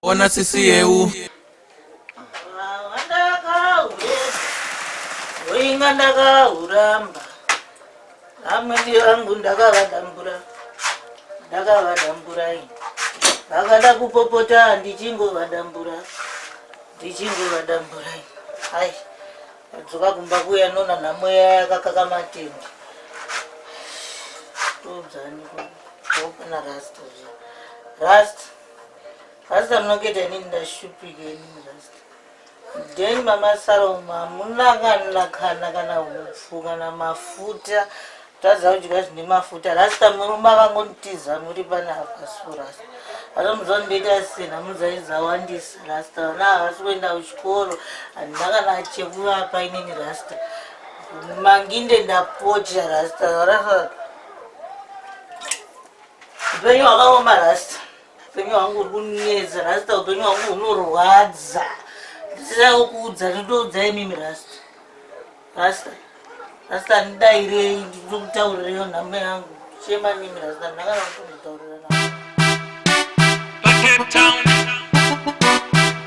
Ona sisi yeu. Inga ndakahuramba amweni vangu ndakavadambura ndakavadambura ini vakada kupopota ndichingovadambura ndichingovadambura ini ai adzoka kumba kuya nona nhamo yaya yakakaka matende todzani kopana rasta rasta Rasta munoketa inini ndashupika inini Rasta. Then mama Salom hamuna kana kana kana hupfu kana mafuta tadza kudya zvine mafuta Rasta murume akangonitiza muri pane apa so Rasta. Ana mudzwa ndoita sei namudzai dzawandisa Rasta vana havasi kuenda kuchikoro handina kana chekuvapa inini Rasta. Manginde ndapotya Rasta Rasta. Upenyu hwakaoma Rasta. Upenyu hwangu uri kunetsa rasta, upenyu hwangu hunorwadza. Ndisirawo kuudza, ndindoudza imimi rasta. Rasta, rasta ndidairei, ndikutaurireyo nhamo yangu. Chema nimi rasta, ndakana kutomutaurira navo. Cape Town.